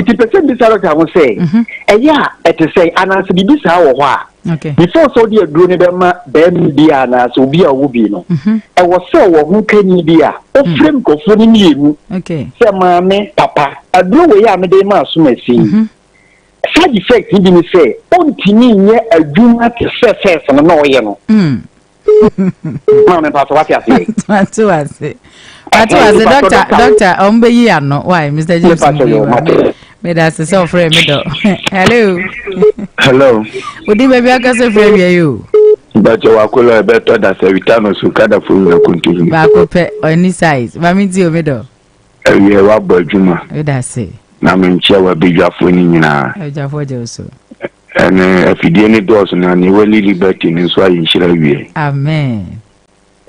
B: nti pɛ sɛ bisa
E: dɔkta ho sɛ mhm. ɛyɛ a ɛte sɛ anaasɛ biribi saa wɔ hɔ a before sɛ wode
B: aduro no
E: bɛma bɛrima bi a anaasɛ obi a ɔwɔ bi no mhm. ɛwɔ sɛ wɔ ho kanyi bi a wofrɛ mm. nkurɔfoɔ no mmienu sɛ maame papa aduro wei a mede ma asom asi mhm. side effect bi ne sɛ ɔntumi nyɛ adwuma te sɛ fɛs no na ɔyɛ no mm. maa mi paatɔ wate ase.
B: wate ase wate ase dɔkta dɔkta ɔn bɛ yi ano waayi mr james mi yi wa mi da ase sɛ ɔfrɛ mi dɔ hello. hello.
D: odi baabi akasa
B: fira wia yi o. bàtɛ wà kó
D: lọ ẹbẹ tọ dasẹ wìtá nù sùn kádà fún mi àkóntó yìí. baako pɛ ɔni
B: size maame ti omi dɔ. ɛwiɛ wa
D: bɔ adwuma. ɛda se.
B: na mi nkyɛn wa
D: bi dwafo ni nyinaa. ɛdwafo jɛ o so.
B: Ɛne
D: afidie no dɔɔso na ne wali liberty no nso ayɛ nhyira wie. Amen.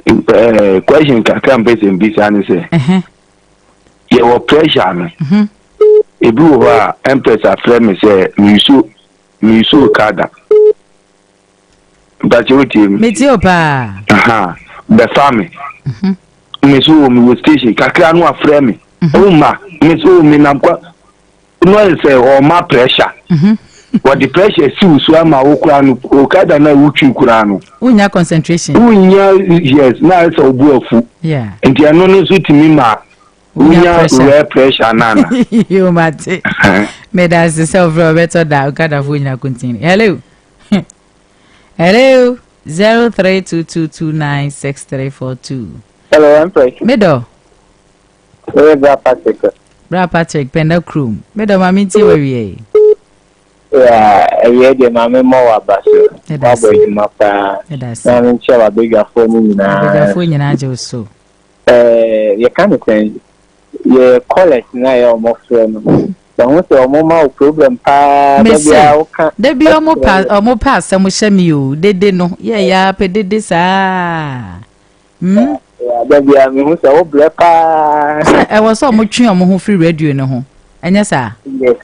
B: Uh, question
D: kakra mpɛ sɛ mbisa ne sɛ yɛwɔ pressure no mhm. ebi wɔ hɔ a ɛmpɛs afrɛ me sɛ mesu mesu ka da mpakyɛ wotie mu metie o paa aha
B: bɛfa
D: me mhm. mesu wɔ mewɔ station kakra no afrɛ me mhm. ɔma mesu wɔ menam kwa no ayɛ sɛ ɔma pressure mhm. wɔde pressure si wo so ama wo koraa no okada no a wotwi koraa no wonya concentration
B: wonya
D: yes na ayɛ sɛ ɔbo afu nti ɛno
B: no nso
D: tumi ma wonya rare pressure no ana yomate
B: meda ase sɛ wofrɛ wɔbɛtɔ da okadafoɔ nyina continue hello hello 0322296342 hello, I'm
E: medɔ
B: Meyɛ Bra Patrick. Bra Patrick, Pɛnda kurom. Me dɔ, ma mentie w'awia yi.
E: Yeah, awia deɛ ma memmɔ w'aba so. Wabɔ adwuma paa. Na menkyɛ w'abadwafoɔ no nyinaa. Abadwafoɔ nyinaa gye wo
B: so. Eh,
E: yɛka no sɛn? Yɛ callers no a yɛ ɔmo frɛ no. Bɛho sɛ ɔmo ma wo problem paa. Da biara woka. Da biara ɔmo pɛ
B: ɔmo pɛ asɛm hyɛ me o. Dede no, yɛ yɛ ara pɛ dede saa. Hmm?
E: Ada bia mehu sɛ wo brɛ paa. Sɛ ɛwɔ sɛ ɔmo
B: twe ɔmo ho firi radio no ho, ɛnyɛ saa? Yes,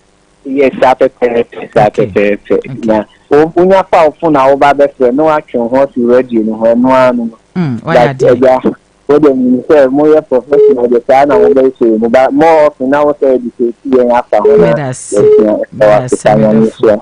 B: yes,
E: saa pɛpɛɛpɛ, saa pɛpɛɛpɛ. Na wonya fa wo fon a woba bɛfrɛ na watwe wo ho afiri radio no ho, ɛno ara no no. Hmm, wayɛ adeɛ. Agya,
B: wode nim
E: sɛ moyɛ professional de saa na mobɛyɛ sɛ mu ba more often na wo sɛ educate yɛn afa ho na yɛsua ɛwɔ asesa nyame
B: so.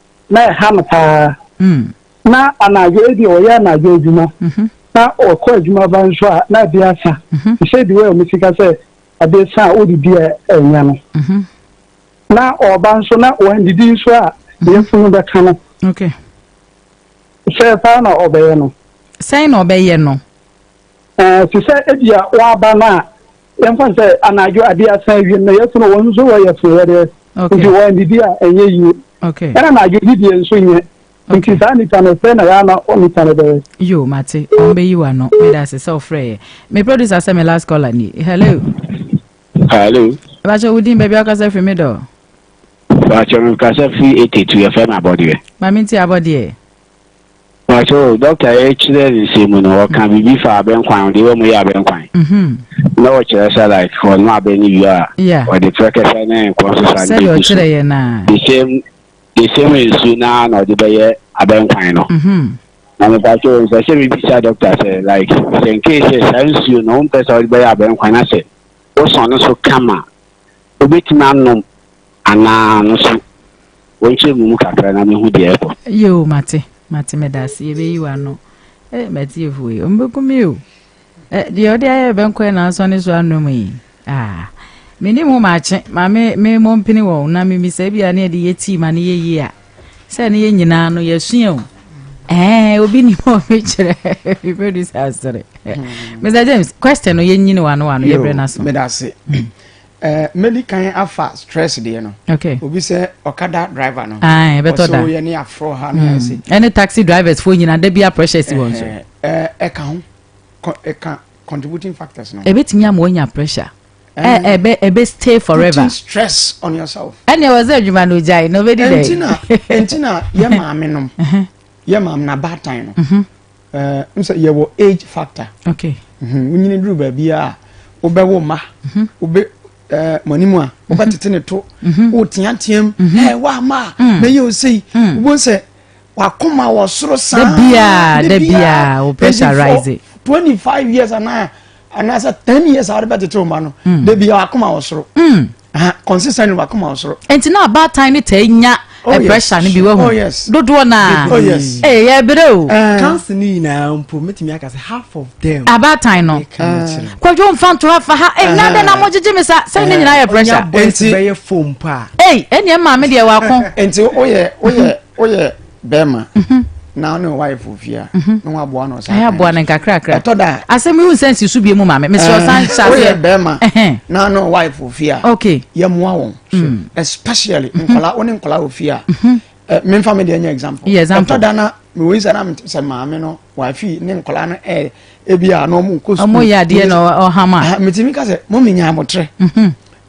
F: na ɛha no paa. Mm. Na anadwo ebi ɔyɛ anadwo adwuma. Mm-hmm. Na ɔkɔ adwuma ba nso a na ebi asa. Mm-hmm. Te sɛ bi wɔ ɛmu sika sɛ ade sa a wode di a ɛnyɛ no. Mm-hmm. Na ɔba nso na wɔandidi nso a yɛfunu bɛka no. Okay. Sɛ paa na ɔbɛyɛ no. Sɛn na ɔbɛyɛ
B: no? Ɛɛ
F: te sɛ ebi a waba no a yɛmfa sɛ anadwo ade asa awiem na yɛsono wɔn nso wɔyɛ sonoyɛdeɛ nti wɔn didi a ɛnyɛ yie ɛna anadwo
B: didie nso
F: nyɛ nti saa nipa no sɛ na yɛana nipa no bɛyɛ yo mate wɔn
B: bɛyi wa no meda ase sɛ ɔfrɛ yɛ me producer sɛ me last caller ni hello hello ɛbakyɛ wo din baabi akasa firi me dɔ bakyɛ
G: me kasa firi ɛtɛtu yɛfɛ no abɔdeɛ ma menti abɔdeɛ
B: Pacho,
G: doctor yɛ kyerɛ ne nsɛm mu no, ɔka biribi fa abɛnkwan, ɔde wɔ mu yɛ abɛnkwan. Mhm. Na ɔkyerɛ sɛ like ɔnom abɛn no wie a, Yeah. ɔde prɛkɛsɛ ne nkɔ nso sa ne Sɛdeɛ bɛgu so. ɔkyerɛ yɛ no a.
B: The same,
G: the same nsu no ara na ɔde bɛyɛ abɛnkwan no. Mhm. Na me Pacho, mpɛ sɛ mebisa doctor sɛ like sɛ nkei sɛ saa nsuo no wompɛ sɛ wode bɛyɛ abɛnkwan na sɛ wosɔn no so kama Obetumi anom anaa no so. Wɔnkyerɛ me mu kakra na mehu deɛ ɛrekɔ. Ɛyɛ o, mate,
B: mate, meda ase, yɛbɛyi w'ano. Eh, m'atiefoɔ yi, wɔbɛku me o. Eh, deɛ ɔde ayɛ bɛnkɔɛ na asɔ ne so anom yi. Ah, menim ho maakye, ma me, me mmɔ mpene wɔn na memisa bi a ne yɛde yɛ tii ma ne yɛ yie a. Sɛ ne yɛ nyinaa no, yɛasua o. Eh, obi nim hɔ mekyerɛ, mebɛdu sɛ asere. Mr. James, question no yɛnyini w'ano w'ano, yɛbrɛ no aso. Meda ase.
A: Eh, mɛdi kan afa stress deɛ no okay. obi sɛ
B: ɔkada
A: driver no ɛbɛtɔ da yɛ ne
B: aforɔ
A: ha no hmm. ɛsɛ ɛne taxi drivers
B: foɔ nyina da bia pressure si wɔn so ɛka ho ɛka
A: contributing factors no ɛbɛtumi ama wɔnya
B: pressure ɛbɛ ɛbɛ stay forever putting stress on
A: yourself ɛnna ɛwɔ sɛ adwuma no
B: gyae na ɔbɛdi dɛ ɛntina ɛntina
A: yɛ maame nom yɛ maame na baatan no. ɛɛ n sɛ yɛwɔ age factor okay mhm,
B: wonyini duru
A: baabi a wobɛwo mma mhm. wobɛ ɛɛ mo anim a wobɛtete ne to mhm. woteateam ɛɛ woama a mm. mɛyɛ osei mm. wobɛhu sɛ wakoma wɔ soro saa da biaa da biaa
B: wo pressure rise twenty five years
A: anaa anaasɛ ten years a wode bɛtete wo ma no mm. da biaa wakoma wɔ soro kɔnsesa ne wakoma ɔsoro. nti na abaatan ne
B: taa nya oh, pressure no bi wahu oh, dodoɔ no a oh, ɛyɛ berɛ o eh. kanse no nyinaa
C: mpo mɛtumi aka sɛ half of them abaatan no
B: kwadwo mfa nto afa ha ɛna eh, eh. dɛ na mogyegye me sa sɛ ne nyinaa yɛ pressure ɛnti bɛyɛ fom
C: pa ei ɛneɛ maa me deɛ
B: wako ɛnti woyɛ woyɛ
A: woyɛ bɛrima mhm. na ɔne wife ofia mhm. na waboa no ɔsan aboa no nkakrakra ɛtɔ
B: da asɛm yi
A: nsɛn si so
B: bie mu maame mesɛ eh, ɔsan hyɛ woyɛ bɛrima
A: na ɔne wife ofia okay yɛmmoa
B: wɔn
A: hmm. especially mhm. nkɔla wo ne nkɔla ofia eh, memfa me deɛ nyɛ example ɛtɔ da na mewɔ yi sɛ na sɛ maame no wafi ne nkɔla no ɛ eh, ebi a na ɔmo nkɔ sukuu ɔmo yɛ adeɛ na
B: ɔhama ah, metumi ka sɛ mo
A: menya abotrɛ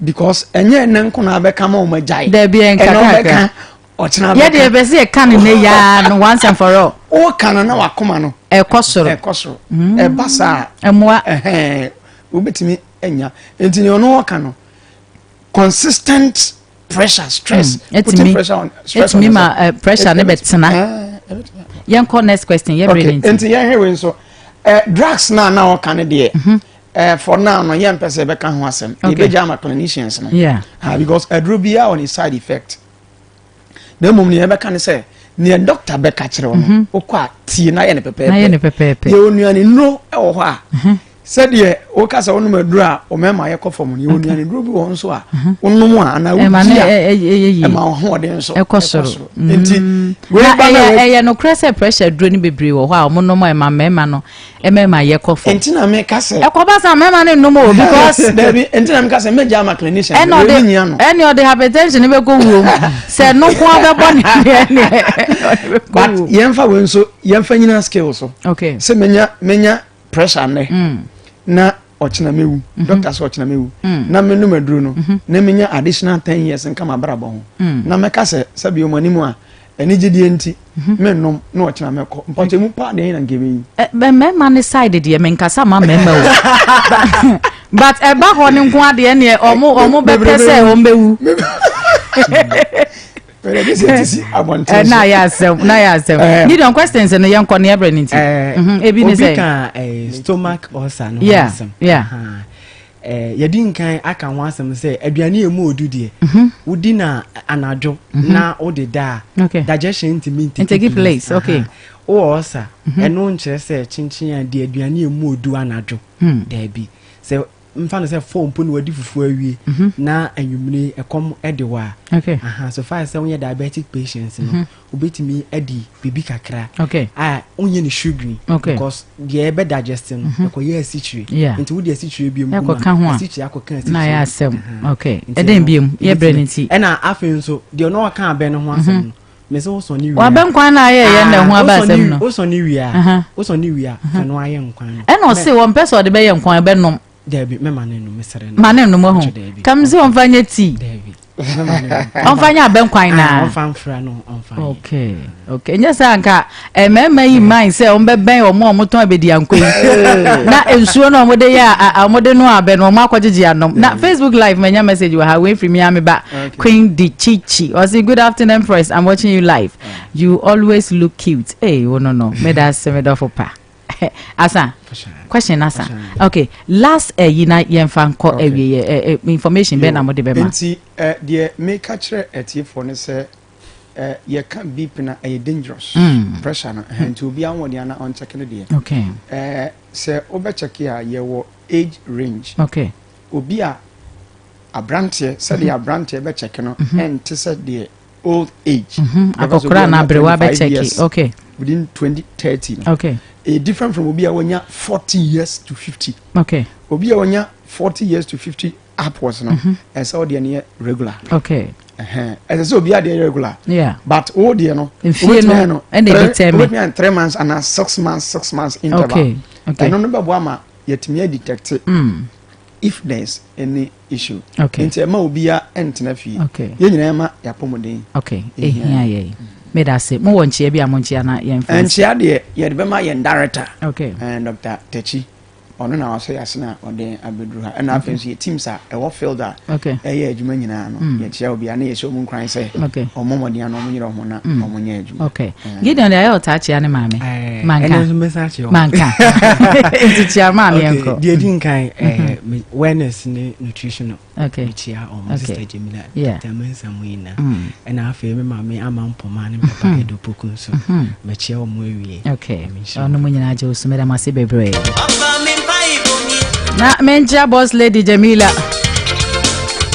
A: because ɛnyɛ ɛnɛ nko na abɛka ma ɔmo agyae dɛbi ɛnkakrakra
B: ɔkyena bɛka. Yɛde ɛbɛ sɛ yɛka no nɛ yaa no once and for all. O ka no na wakoma
A: no. Ɛkɔ soro. Ɛkɔ soro.
B: Mm. Ɛba
A: saa. Ɛmoa.
B: Ɛhɛn.
A: Wobɛtumi anya. Nti ne ɔno ɔka no. Consistent pressure stress. Mm. Putting pressure on
B: stress on. Ɛtumi ma eh, pressure ne bɛtena. Eh, Yɛnkɔ next question. Yɛ bere ne nti. Nti yɛn hewe nso.
A: Eh, drugs na na ɔka no deɛ. Mhm. Uh, for now no yɛmpɛ sɛ ɛbɛka ho asɛm yɛbɛgya ama clinicians no yeah. uh, because
B: aduro biaa
A: on a side effect na mmom nea ɛbɛka ne sɛ nea dɔkta bɛka kyerɛ wo no mhm. wokɔ a tie na yɛ ne pɛpɛɛpɛ yɛ onuane nnuro wɔ hɔ a mhm. sɛdeɛ woka sɛ wonom aduro a ɔmɛma yɛkɔ fam no yɛ mhm. onuane nnuro bi wɔ nso a wonom a anaa wodi a ɛma ɔhoɔden nso ɛkɔ soro
B: nti
A: ɛyɛ nokorɛ sɛ pressure
B: duro no bebree wɔ hɔ a wɔnom a ɛma mmarima no mmarima yɛ kɔ fam. nti na mi ka sɛ. ɛkɔ
A: ba sa mmarima ne
B: nnum o because. dabi nti na mi ka sɛ
A: mɛ gya ama clinician. ɛna ɔde ɛna ɔde hypertension
B: bɛ kɔ wuo mu sɛ noko abɛ bɔ ne deɛ ne ɔde bɛ
A: kɔ wuo. but yɛn fa wei nso yɛn fa nyina skill so. okay sɛ menya
B: menya
A: pressure nnɛ. Mm. na ɔkyena mɛwu mhm. dɔkta sɛ ɔkyena mɛwu mm. na menom aduro no mhm. na menya additional ten years nka mabrabɔ ho mm. na mɛka sɛ sɛbi ɔmu anim a anigyedeɛ nti mhm. mennom na ɔkyena mɛkɔ mpɔkyɛ mu paa deɛ na nka ɛbɛyi eh, mmarima ne
B: side deɛ menkasa ma mmarima o but ɛba hɔ no nko adeɛ neɛ ɔmo ɔmo bɛpɛ sɛ ɔmbɛwu
A: na ayɛ asɛm
B: na ayɛ asɛm eh. gideon questions no yɛn kɔ ne yɛbrɛ ne nti eh. mhm, ebi ne sɛ obi ka eh, stomach ulcer
C: no ho asɛm
B: yɛdi
C: nkan aka ho asɛm sɛ aduane yɛ mu odu deɛ mhm. wodi na anadwo mhm. na wode da a digestion ntumi ntake
B: place wowɔ ɔsa
C: ɛno nkyerɛ sɛ kyenkyen a de aduane yɛ mu odu anadwo hmm. daabi sɛ mfa no sɛ fɔɔ mpo na wadi fufuo awie na anwummere ɛkɔm de wɔ a so far
B: sɛ wonyɛ
C: diabetic patients no wobɛtumi adi biribi kakra a wonyɛ
B: no sugary
C: because deɛ ɛbɛ digest no ɛkɔyɛ asikyire nti wode asikyire biom kuma asikyire akɔka asikyire
B: ɛdɛn biom yɛbrɛ no nti ɛna afei nso
C: deɛ ɔno ɔka abɛ no ho asɛm no Me se wosɔ ne wia. Wabɛ nkwan na ayɛ yɛn
B: na ɛho aba asɛm no. Wosɔ ne wia.
C: Wosɔ ne wia. Fɛ no ayɛ nkwan no. Ɛna ɔse wɔn pɛ sɛ ɔde
B: bɛyɛ nkwan ɛbɛ nom. Daabi mɛma ne nom
C: mesrɛ no. Ma ne nom ahu. Kam
B: se wɔn fa nyɛ tii. Daabi.
C: Wɔn
B: fa nyɛ abɛ nkwan na. Wɔn fa nfra no wɔn
C: fa nyɛ. Okay okay
B: nyɛ sɛ anka. Eh, mmarima yi mmae sɛ wɔbɛbɛn wɔn a wɔtɔn abadianko yi na nsuo no wɔde yɛ a wɔde no abɛ no wɔn akɔgyegye anom na facebook live manya message wɔ ha wɔafiri mi ame ba queen di chichi ɔsi good afternoon press i'm watching you live you always look cute ee eh, wo no no meda ase medɔfo pa asa question asa okay last ɛyi eh, na yɛn fa nkɔ ɛwie yɛ information bɛn na mo de bɛ ma. nti deɛ
A: meka kyerɛ ɛtiefoɔ no sɛ. eh, yɛka beep na ɛyɛ eh, dangerous mm. pressure no eh, nti obiara wɔ deɛ na ɔnkyɛke no deɛ okay. eh,
B: sɛ
A: wobɛkyɛke a yɛwɔ age range okay. obi
B: a
A: aberanteɛ sɛdeɛ mm-hmm. aberanteɛ bɛkyɛke no mm-hmm. ɛnte sɛ deɛ old age mm-hmm. akɔkora na
B: aberewa bɛkyɛke okay. within 2030
A: no okay. e
B: different from obi a
A: wɔnya 40 years to 50 okay. obi a
B: wɔnya 40
A: years to 50 app was no mhm. ɛsɛ wo deɛ no yɛ regular okay
B: ɛsɛ sɛ
A: obi adeɛ yɛ regular yeah. but wo
B: deɛ no
A: wobɛtumi no
B: wobɛtumi ayɛ three months
A: anaa six months six months interval okay. okay. ɛno no
B: bɛboa ma
A: yɛtumi adetecte mm. if there is any issue okay. nti ɛma obia ɛntena fie okay. yɛn nyinaa ma
B: yɛapɔmuden
A: okay. ɛhia
B: yɛi meda ase mowɔ nkyea bi a monkyea na yɛmfa nkyea deɛ yɛde bɛma
A: yɛn director okay. uh, dr
B: tachi
A: ɔno na wasɔ yɛ asena ɔde abɛduru ha ɛna afei nso yɛ teams a ɛwɔ field a ɛyɛ adwuma
B: nyinaa no
A: mm. yɛkyerɛ obiara na yɛhyɛ ɔmu nkran sɛ ɔmɔ mmɔden ano
B: ɔmo nyerɛ ɔmo
A: na mm. ɔmo nyɛ adwuma mm. gideon deɛ ayɛ
B: ɔtaa kyea ne maame eh, manka
C: manka nti
B: kyea maame yɛnkɔ deɛ di nkan eh,
C: mm-hmm. wellness ne nutritional okay. mekyia
B: ɔmo okay. sister
C: Jamila yeah. Dr. Mensa mu
B: nyina
C: mm. ɛna afei me maame ama mpoma ne papa mm-hmm. Edo Poku nso mm-hmm. mekyia ɔmo awie okay. ɔno mu
B: nyinaa gye wo so meda mo ase bebree na menkyia boss lady Jamila